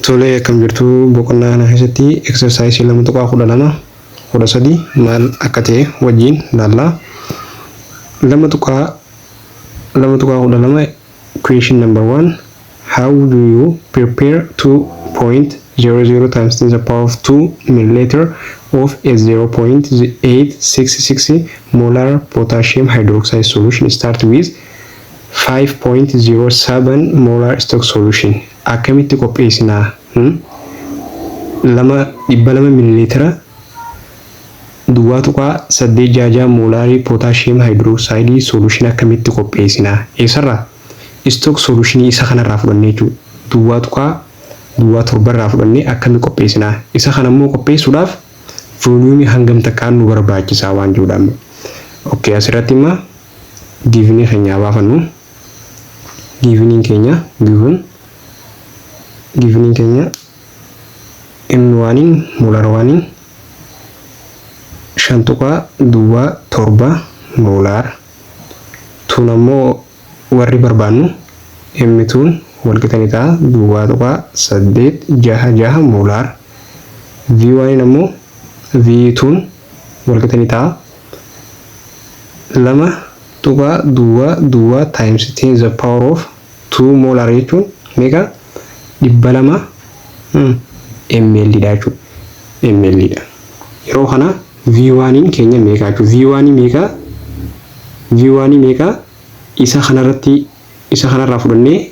Tolee akkam jirtu boqonnaa kana keessatti exercise lama tuqaa kudha lama kudha sadi maal akka ta'e wajjin laalla. Lama tuqaa lama tuqaa kudha lama question number one how do you prepare two point zero zero times ten the power of two milliliter of a zero point eight six six molar potassium hydroxide solution start with 5.07 molar stock solution akkamitti qopheessinaa hmm? lama dhibba lama mililiitira duwwaa tuqaa saddeet jaajaa moolaarii pootaashiyeem haayidiroosaayidii solution akkamitti qopheessinaa eessarraa stock solutionii isa kanarraa fudhannee jechuudha duwwaa tuqaa duwwaa torbarraa fudhannee akkamii qopheessinaa isa kana immoo qopheessuudhaaf vooliyuumii hangam takkaan nu barbaachisaa waan jedhudha amma okay asirratti immoo giivinii keenya haa baafannu. Giiviniin keenya given giiviniin keenya M1'n molar 1'n shan tuqaa duwwaa torba molar tuun ammoo warri barbaannu M2'n walqixa ni ta'a duwwaa tuqaa saddeet jaha jaha molar V1'n ammoo V2'n walqixa ni ta'a. lama tuqaa duwwaa duwwaa times 10 the power of 2 molar jechuun meeqa? dhibba lama ml dha jechuudha. ml dha. Yeroo kana V1n keenya meeqa jechuudha? V1 meeqa? V1 meeqa? Isa kanarratti isa kanarraa fudhannee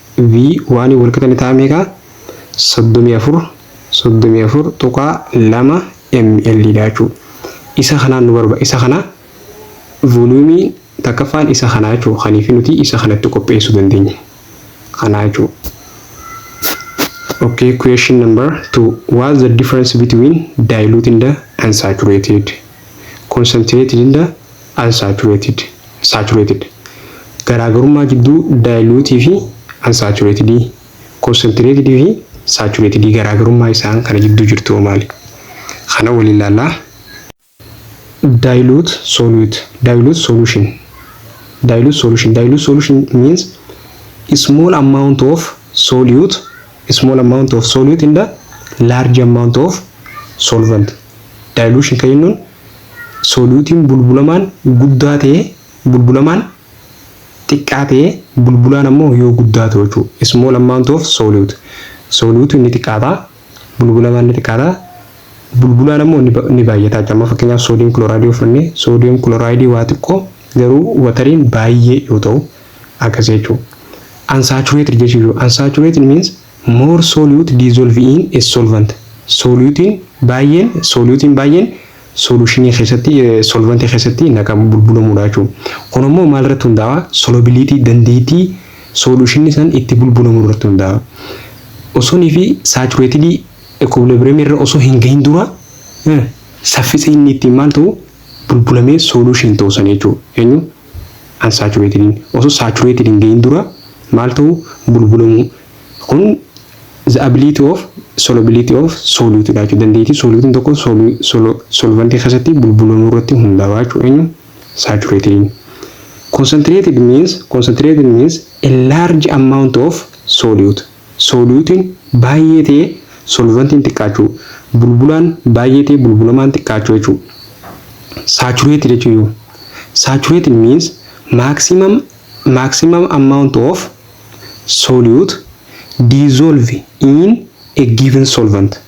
V waanii wal qixa ni ta'a meeqa? 34 34.2 ml dha jechuu isa kanaan nu barba isa kana volumii takkaffaan isa kanaa jechuu kaniifi nuti isa kanatti qopheessuu dandeenye kanaa jechuu okay question number 2 what's the difference between diluted and saturated concentrated and Unsaturated, Saturated, Garaagarummaa jidduu dilute fi unsaturated, concentrated fi saturated garaagarummaa isaan kana jidduu jirtu hoo maali? Kana waliin laallaa. Dilute solute, dilute solution, dilute solution, dilute solution means small amount of solute, small amount of solute in the large amount of solvent. Dilution kan jennuun Soodiyuutiin bulbulamaan guddaa ta'e bulbulamaan xiqqaa ta'e bulbulaan ammoo yoo guddaa ta'u jechuudha. Small amount of solute. Soodiyuutiin ni xiqqaata. Bulbulamaan ni xiqqaata. Bulbulaan ammoo ni baay'ata jechuudha. Amma fakkeenyaaf soodiyum kilooraayidii yoo fudhanne soodiyum kilooraayidii waa xiqqoo garuu watariin baay'ee yoo ta'u akkasii jechuudha. Unsaturated jechuudha. Unsaturated means More solute dissolve in a solvent Sooliyuutiin baay'een sooliyuutiin baay'een soluushinii keessatti solvantii keessatti naqamu bulbulamuudha jechuudha. Kun ammoo maal irratti hundaa'a? Solubility dandeettii soluushinni san itti bulbulamu irratti hundaa'a. Osonii fi saturatedii equilibrium irra osoo hin gahin dura saffisa inni ittiin maal ta'u bulbulamee solution ta'u san jechuudha. Eenyu? Unsaturated'n osoo saturated hin gahin dura maal ta'uu? Bulbulamuu. Kun the ability of solubility of solute dha jechuudha. Dandeettii solute'n tokko solvantii keessatti bulbulamuu irratti hundaawa jechuudha eenyu? Saturated'n. Concentrated means concentrated means a large amount of solute. Sooliyuutiin baay'ee ta'ee solvantiin xiqqaachuu. Bulbulaan baay'ee ta'ee bulbulamaan xiqqaachuu jechuudha. Saturated jechuun yoo. Saturated means maximum maximum amount of solute dissolve in a given solvent.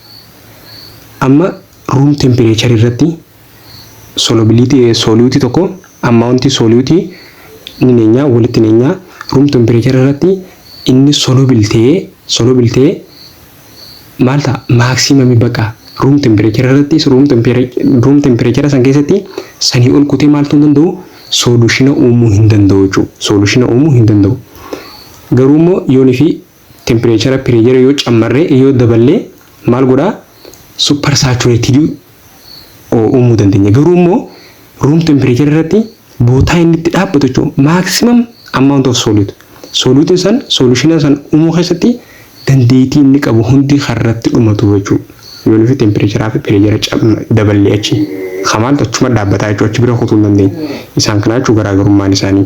Amma room temperature irratti solubility solute tokko amount solute ni neenyaa walitti neenyaa room temperature irratti inni soluble ta'ee soluble ta'ee maal ta'a maximum baqa room temperature irratti room temperature room temperature san keessatti sanii ol kutee maaltu hin danda'u solushina uumuu hin danda'u jechuudha solushina uumuu hin danda'u garuu immoo yoonii fi tempireechara, pireejara yoo cammarre, yoo daballe maal godha? Super saturated uumuu dandeenya. Garuu immoo room temperature irratti bootaa inni itti dhaabbatu jechuun maximum amount of solute. Solute san solution san uumuu keessatti dandeettii inni qabu hundi kan irratti dhumatu jechuudha. Yoon fi temperature fi pireejara daballee achi. Kan maaltu achuma dhaabbataa jechuudha achi bira kutuu hin dandeenye. Isaan kanaa jechuun garaagarummaan isaanii.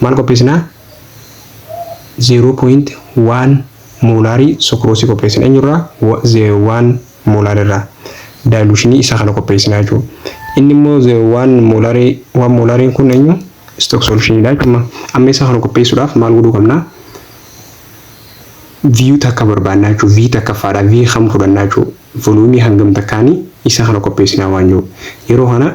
maal qopheessinaa? 0.1 moolaarii sukroosii qopheessina. Eenyurraa? 0.1 moolaar irraa daayiluushinii isaa kana qopheessinaa jechuudha. Inni immoo 0.1 moolaarii 1 moolaariin kun eenyu? Istook soolushiniidha jechuudha. Amma isaa kana qopheessuudhaaf maal godhuu qabna? V takka barbaannaa jechuudha. V takkaffaadha. V kam fudhannaa jechuudha. Voluumii hangam takkaanii isaa kana qopheessinaa waan jiru. Yeroo kana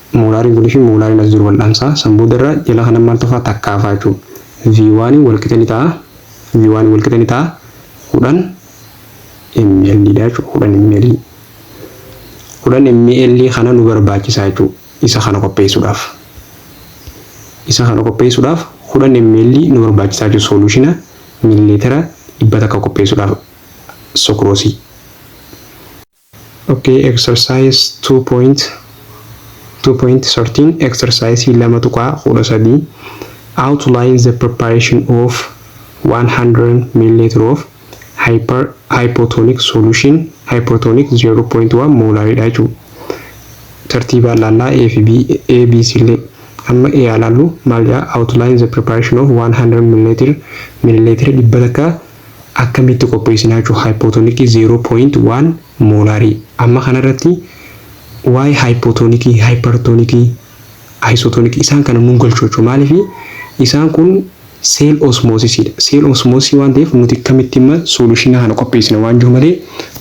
Moolaariin kunii fi moolaariin as jiru wal'aansaa san booda irra jala kanan maal tofaa takkaa faa jechuu V1 walqixa ni ta'a V1 walqixa ni ta'a 10 ml dha jechuu 10 ml 10 ml kana nu barbaachisaa jechuu isa kana qopheessuudhaaf isa kana qopheessuudhaaf 10 ml nu barbaachisaa jechuu sooluushina miilileetira dhibba takka qopheessuudhaaf sukroosii. ok exercise 2.2.13 exercise 2.13 outline the preparation of 100 milliliter of hyper hypotonic solution hypotonic 0.1 molar dha jechuu tartiibaan laallaa a fi b a b c illee amma a haa laallu maal jaa outline the preparation of 100 milliliter milliliter dhibba takka Akkamitti qopheessinaa jechuun haayipootonikii 0.1 moolaarii amma kana irratti waa'ee haayipootonikii, haayippartoonikii, ayisootoonikii isaan kana nun galchu jechuudha. Maaliif isaan kun seel osmoosisiidha. Seel osmoosisii waan ta'eef nuti akkamitti amma sooluushinaa kana qopheessina waan jiru malee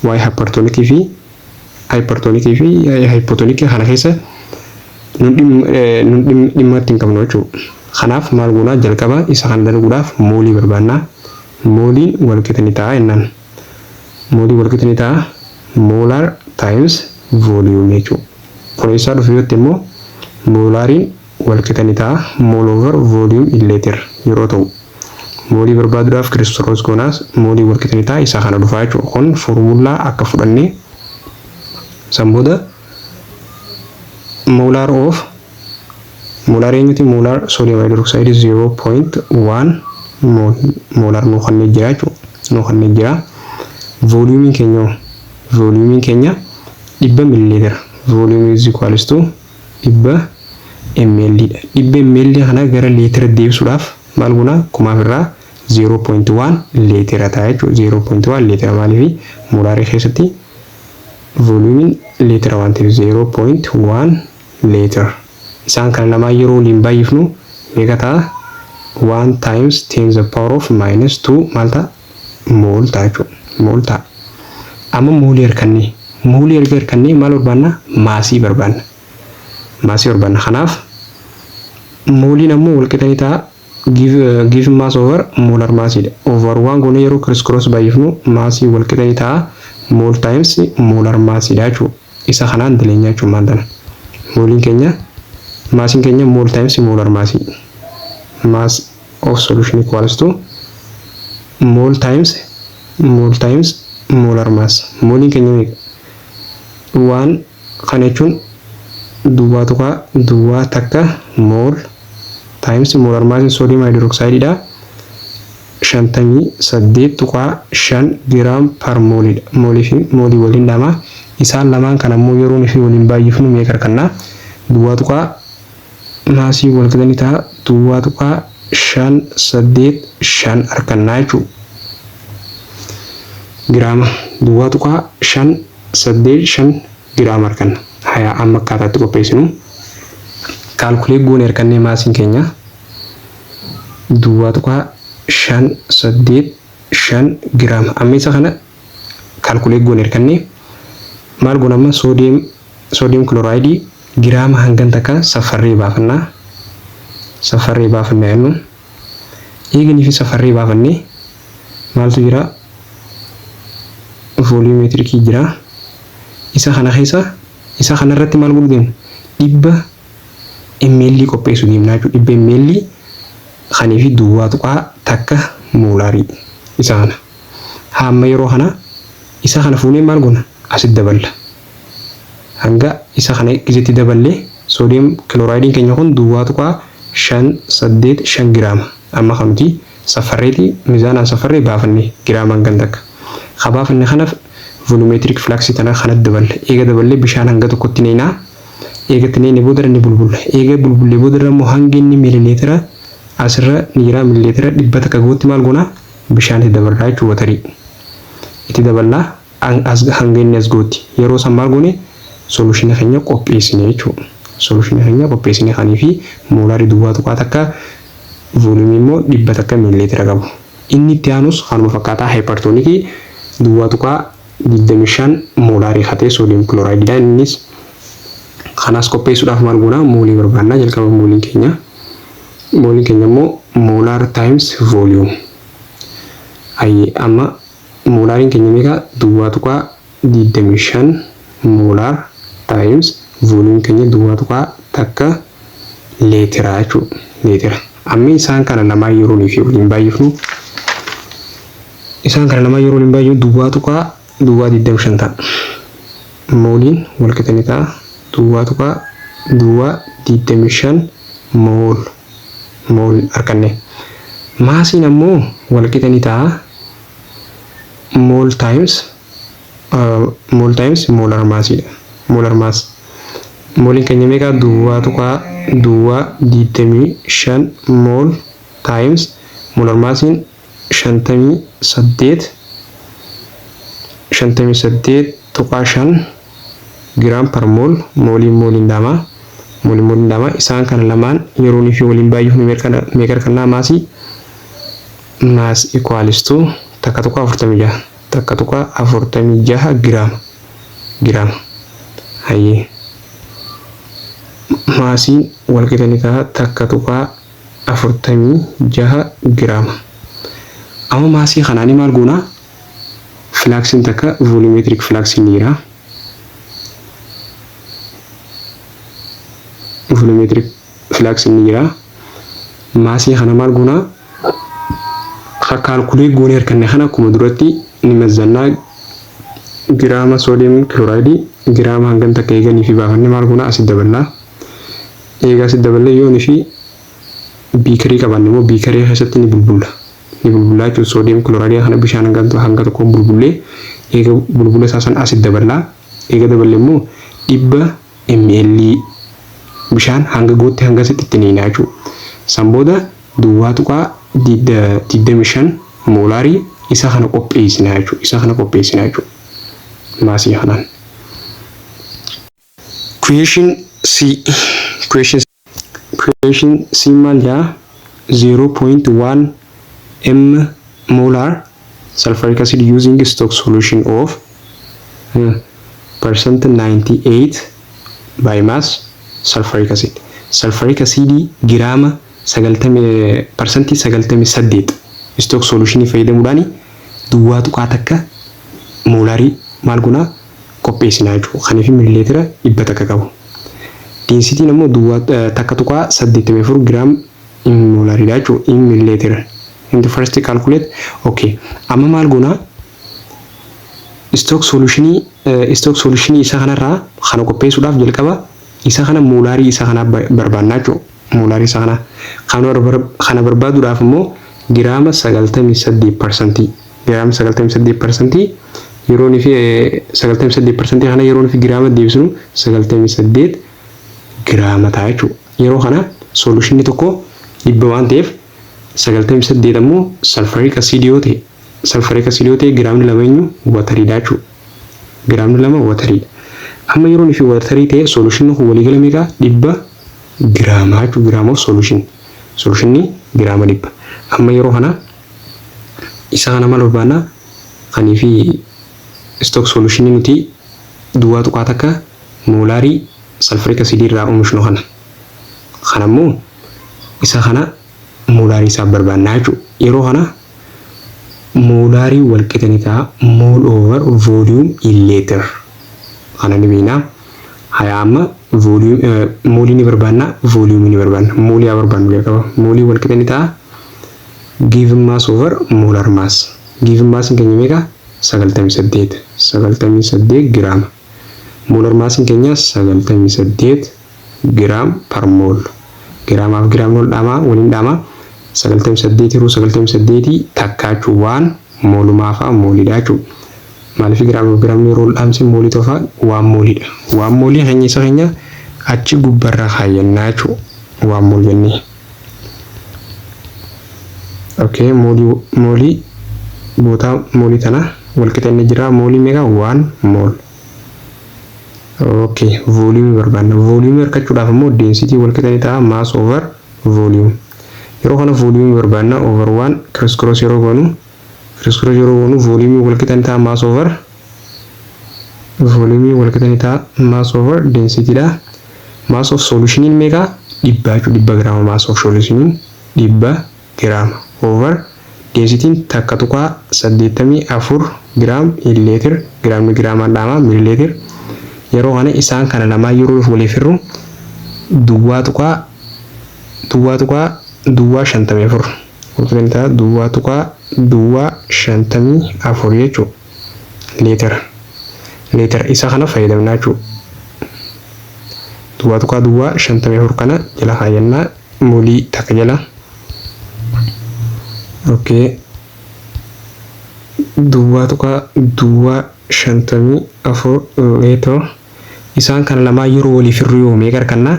waa'ee haayippartoonikii fi Hypertonic fi hypotonic kana keessa nun dhim- eh, nun dhim- dhimma itti hin qabnu jechuudha. Kanaaf maal goonaa jalqaba isa kana dalguudhaaf moolii barbaannaa. Mooliin walqixa ni ta'a jennaan. Moolii walqixa ni ta'a molar times volume jechuudha. Kun eessaa dhufe yoo jette immoo moolaariin walqixa ni ta'a, mole over volume illeeter yeroo ta'u. Moolii barbaadudhaaf cristoros gonaas mooliin walqixa ni ta'a isa kana dhufaa jechuudha. Kun formullaa akka fudhannee san booda molar of molar eenyuti molar sodium hydroxide 0.1 molar nuu kannee jira jechuudha. Nuu kannee jira. Volume keenya volume keenya dhibba millilitera volume is equals to dhibba ml dha. Dhibba ml kana gara leetiratti deebisuudhaaf maal goona? Kumaaf irraa 0.1 leetira ta'a jechuudha. 0.1 leetira maaliifi? Moolaarii keessatti vooliyuumiin leetira waan ta'eef 0.1 leetira. Isaan kana lamaan yeroo waliin baay'ifnu meeqa ta'a? 1 times 10 the power of minus 2 maal ta'a? Mooltaa jechuun mooltaa. Amma moolii harkannee. Moolii erga harkannee maal barbaanna? Maasii barbaanna. Maasii barbaanna. Kanaaf mooliin ammoo walqixa ni ta'a given mass over molar mass dha. Over waan goonee yeroo criss cross baay'ifnu maasii walqixa ni ta'a mool times molar mass dha jechuudha. Isa kanaan daleenyaa jechuun maal tana? Mooliin keenya maasiin keenya mool times molar mass mass of solution equals to mol times mol times molar mass moliin keenya meeqa waan kana jechuun duwwaa tuqaa duwwaa takka mol times molar mass sodium hydroxide dha shantamii saddeet tuqaa shan giraam par molii dha molii fi molii waliin dhama isaan lamaan kan ammoo yeroon fi waliin baay'ifnu meeqa arganna duwwaa tuqaa maasii walqixa ni ta'a 2.585 arkanna jechuu giraama 2.585 giraama arkanna hayaa amma akkaataatti qopheessinu kaalkuleet goone arkannee maasiin keenya 2.585 giraama amma isa kana calculate goone irkanne maal goona amma sodium sodium chloride giraama hangan takka saffarree baafanna saffarree baafanna jennu eeganiif saffarree baafanne maaltu jira volumetrikii jira isa kana keessa isa kana irratti maal godhu deemna dhibba ml qopheessu deemna jechuudha dhibba ml kanii fi duwwaa tuqaa takka moolaarii isa kana. Haamma yeroo kanaa isa kana fuunee maal gona asit daballa. Hanga isa kana gizetti daballe sodium chloride keenya kun duwwaa tuqaa shan saddeet shan giraama. Amma kan nuti saffarreeti mizaanaan saffarree baafanne giraamaan kan takka. Ka baafanne kanaf volumetric flux tana kanat daballa. Eega daballe bishaan hanga tokkotti neynaa. Eega itti neyne boodarra ni bulbulla. Eega bulbullee boodarra immoo hangi inni milileetira asirra ni jira milileetira dhibba takka gahutti maal gona? Bishaan itti dabarraa jechuun watarii itti daballaa hanga inni as ga'utti yeroo san maal goone solution keenya qopheessine jechuudha. Solution keenya qopheessine kanii fi moolaarii duwwaa tuqaa takka volume immoo dhibba takka miilileetira qabu. Inni itti aanus kanuma fakkaataa hypertonic duwwaa tuqaa digdamii shan moolaarii katee sodium chloride dha innis kanaas qopheessuudhaaf maal goona moolii barbaannaa jalqaba mooliin keenya Mooliin keenya immoo molar times volume. Hayyee amma moolaariin keenya meeqa? Duwwaa tuqaa 25 molar times volume keenya duwwaa tuqaa takka leetira jechuudha. Leetira. Amma isaan kana lamaan yeroo nuyi fi waliin baay'ifnu isaan kana lamaan yeroo waliin baay'ifnu duwwaa tuqaa duwwaa 25 ta'a. Mooliin walqixa ni ta'a duwwaa tuqaa duwwaa 25 mool mool arkanne. Maasiin ammoo walqixa ni ta'a mool times mool times moolar maasiidha. Moolar maas mooliin keenya meeqa duwwaa tuqaa duwwaa 25 mool times moolar maasiin 58 58.5 gram per mol mooliin mooliin daamaa mooliin mooliin daamaa isaan kana lamaan yeroonii fi waliin baay'ifnu meeqa argannaa maasii maas equals to takka tuqaa 46 takka tuqaa 46 giraama giraama hayyee maasiin walqixa ni ta'a takka tuqaa 46 giraama. Amma maasii kanaanii maal goona? Filaaksiin takka volumetric filaaksiin ni jira. Volumetric filaaksiin ni jira. Maasii kana maal goona? Ka kaalkulee goone harkanne kana akkuma duratti ni mazzannaa giraama soodiyem kilooraayidii giraama hangam takka eeganii fi baafanne maal goona asi daballaa. Eegas itti daballee yoo ni fi biikarii qabaanne immoo biikarii keessatti ni bulbulla. Ni bulbullaa jechuun soodiyem kilooraayidii kana bishaan hanga hanga tokkoon bulbullee eega bulbula isaa san asitti daballaa. Eega daballe immoo dhibba ml bishaan hanga guutti hangasitti itti niinaa jechuudha. San booda duwwaa tuqaa digdamii shan moolaarii isa kana qopheessinaa jechuudha. Isa kana qopheessinaa jechuudha. Maasii kanaan. Creation C Creation Creation C maal jaa 0.1 m molar sulfuric acid using stock solution of uh, percent 98 by mass sulfuric acid sulfuric acid giraama 90 percent 98 stock solution fayyadamuudhaan duwwaa tuqaa takka moolarii maal gonaa qopheessinaa jechuudha. Kan fi milileetira 100 qabu. Deensitiin ammoo duwwaa 1.84 giraam in moolaridha jechuudha. In milileetira. Into first calculate. Okay. Amma maal goonaa? Istook solutionii istook solutionii isa kanarraa kana qopheessuudhaaf jalqaba isa kana moolaarii isa kanaa barbaannaa jechuudha. Moolaarii isa kanaa. Kana barbaaduudhaaf immoo giraama 98 parsantii. giraama 98% yeroon fi 98% kana yeroon fi giraama deebisnu 98 giraama ta'a jechuudha. Yeroo kana soolushinni tokko dhibba waan ta'eef 98 ammoo salfariik asiidii yoo ta'e salfariik asiidii yoo ta'e giraamni lama eenyu watariidha jechuudha. Giraamni lama watariidha. Amma yeroon fi watarii ta'e soolushinni kun waliigala meeqa dhibba giraama jechuudha. Giraama of soolushin soolushinni giraama dhibba. Amma yeroo kana Isa kana mal barbaanna kanii fi stock solution nuti duwwaa tuqaa takka moolaarii sulfuric acid irraa omishnu kana. Kana immoo isa kana moolaarii isaaf barbaanna jechuu yeroo kana moolaarii wal qixa ni ta'a mol over volume in liter kana ni beekna haya amma volume moolii ni barbaanna volume ni barbaanna moolii haa barbaannu jalqaba moolii wal qixa ni ta'a Given mass over molar mass. Given mass keenya meeqa? 98. 98 giraama. Molar mass keenya 98 giraam per mol. Giraamaaf giraamni wal dhaamaa waliin dhaamaa 98 hiruu 98 takkaa jechuun waan moolumaa fa'aa moolidha jechuudha. Maaliif giraamaaf giraamni yeroo wal dhaamse moolii tofa waan moolidha. Waan moolii keenya isa keenya achi gubbarra kaayyannaa jechuudha. Waan mool jennee. okay moolii moolii bootaa moolii tana walqixa inni jira moolii meeqa waan mool okay vooliyumii barbaanna vooliyumii argachuudhaaf immoo deensitii walqixa ni ta'a maas over vooliyum yeroo kana vooliyumii barbaanna over waan kiriskiroosi yeroo goonu Kiriskura yeroo goonu vooliyuumii walqixa ni ta'a mass over vooliyuumii walqixa ni ta'a mass over density dha. Mass of solutionin meeqa? Dhibba jechuudha. Dhibba giraama mass of solutionin dhibba giraama over densitiin takka tuqaa saddeettamii afur giraam in leetir giraamni giraamaan dhaamaa milileetir. Yeroo kana isaan kana lamaan yeroo waliif hirru duwwaa tuqaa duwwaa tuqaa duwwaa shantamii afur. Guutintaa duwwaa tuqaa duwwaa 54 jechuun leetera leetera isa kana fayyadamnaa jechuudha. Duwwaa tuqaa duwwaa 54 kana jala kaayyannaa molii takka jala. Okay. Duwwaa tuqaa duwwaa 54 leetera isaan kana lamaan yeroo waliif hirriyuu meeqa argannaa?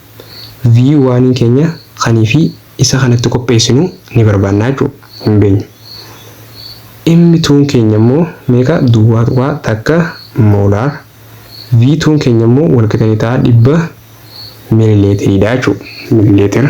view waaniin keenya kanii fi isa kanatti qopheessinu ni barbaanna jechuu hin beenyu M2n keenya immoo meeqa duwwaa tuqaa takka molar V2n keenya immoo walqixa ni ta'a dhibba milileetiriidha jechuu milileetira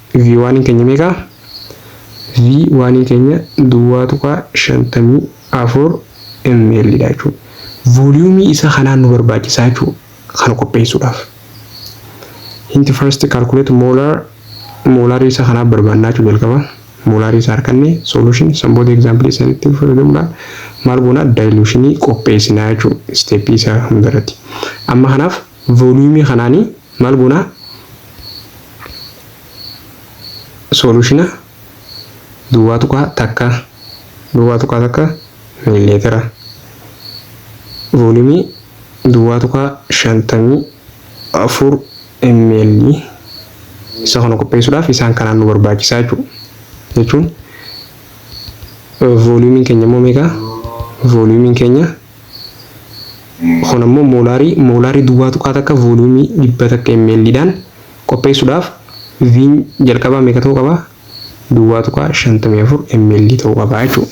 V1n keenya meeqa? V1n keenya duwwaa tuqaa 54 ml dha jechuudha. Vooliyuumii isa kanaa nu barbaachisaa jechuudha kana qopheessuudhaaf. Hint first calculate molar moolaarii isa kanaa barbaannaa jechuudha jalqaba. Moolaarii isa harkanne solution san booda example isaanitti fayyadamuudhaan maal goona dilutionii qopheessinaa jechuudha isteeppii isaa hundarratti. Amma kanaaf vooliyuumii kanaanii maal goona solushina duwwaa tuqaa takka duwwaa tuqaa takka miliimeetira voolumii duwwaa tuqaa shantamii afur ml isa kana qopheessuudhaaf isaan kanaan nu barbaachisaa jechuudha. Jechuun voolumiin keenya immoo meeqa? Voolumiin keenya Kun ammoo moolaarii, moolaarii duwwaa tuqaa takka vooliyuumii dhibba takka ml dhaan qopheessuudhaaf Vn jalqabaa meeqa ta'uu qaba? duwwaa tuqaa shantamii afur ml ta'uu qaba jechuudha.